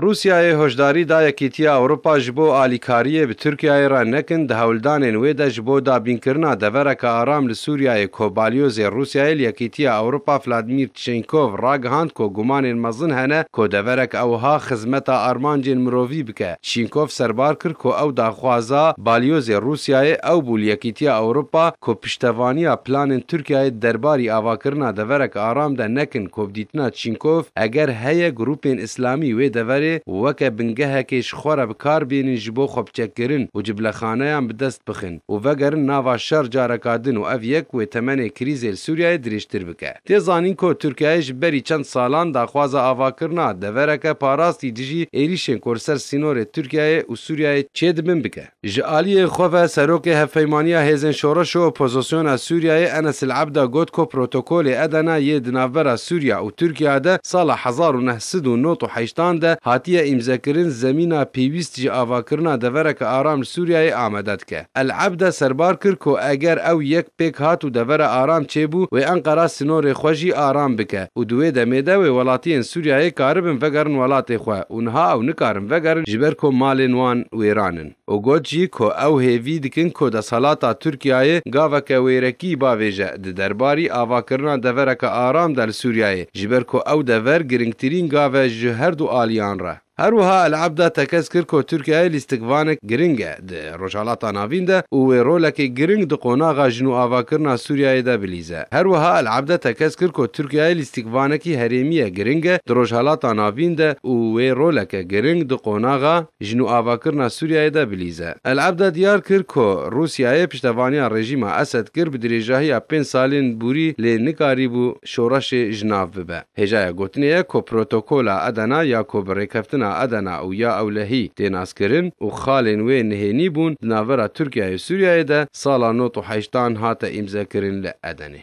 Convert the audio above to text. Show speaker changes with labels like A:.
A: Rûsyayê hoşdarî da Yekîtiya Ewropa ji bo alîkariyê bi Tirkiyeyê re nekin, di hewldanên wê de ji bo dabînkirina devereke aram li Sûriyeyê ku Balyozê Rûsyayê li Yekîtiya Ewropa Vladmîr Tişenkov ragihand ku gumanên mezin hene ku deverek e wiha xizmeta armancên mirovî bike. Çînkov serbar kir ku ew daxwaza balyozê Rûsyayê ew bû li Yekîtiya Ewropa ku piştevaniya planên Tirkiyeyê derbarî avakirina deverek aram de nekin ku bi dîtina Çînkov eger heye grûpên îslamî wê deverê weke bingehekê ji xwe re bi kar bênin ji bo xwebiçekkirin û cibilexaneyan bi dest bixin û vegerin nava şer careka din û ev yek wê temenê krîzê li Sûriyeyê dirêjtir bike. Tê zanîn ku Tirkiyeyê ji berî çend salan daxwaza avakirina devereke parastî dijî êrîşên ku li ser sînorê Tirkiyeyê û Sûriyeyê çê dibin bike. Ji aliyê xwe ve Serokê Hevpeymaniya Hêzên Şoreş û Opozisyona Sûriyeyê Enes Al Ebda got ku protokolê Edena yê di navbera Sûriya û Tirkiya de sala hezar û neh sed û nod û heştan de hatiye îmzekirin zemîna pêwîst ji avakirina devereke aram li Sûriyeyê amade dike. El Ebde serbar kir ku eger ew yek pêk hat û devera aram çêbû, wê Enqera sînorê xwe jî aram bike û di wê demê de wê welatiyên Sûriyeyê karibin vegerin welatê xwe û niha ew nikarin vegerin ji ber ku malên wan wêran in û got jî ku ew hêvî dikin ku desthelata Tirkiyeyê gaveke wêrekî bavêje di derbarî avakirina devereke aram de li Sûriyeyê ji ber ku ew dever girîngtirîn gav e ji herdu aliyan re. Her wiha El Abda tekez kir ku Tirkiyeyê lîstikvanek giring e di Rojhilata Navîn de û wê rolekê giring di qonaxa jin û avakirina Sûriyeyê de bilîze. Her wiha El Abda tekez kir ku Tirkiyeyê lîstikvanekî herêmîye giring e di Rojhilata Navîn de û wê roleke giring di qonaxa jin û avakirina Sûriyeyê de bilîze. El Abda diyar kir ku Rûsiyeyê piştevaniya rejîma Esed kir bi dirêjahiya pênc salên borî lê nikarîbû şoreşê ji nav bibe. Hêjaya gotinê ye ku Protokola Adena ya ku bi Rêkeftina Adena û ya Ewlehî tê naskirin û xalên wê nihênî bûn di navbera Tirkiyeyê û Sûriyeyê de sala nod û heştan hate îmzekirin li Edenê.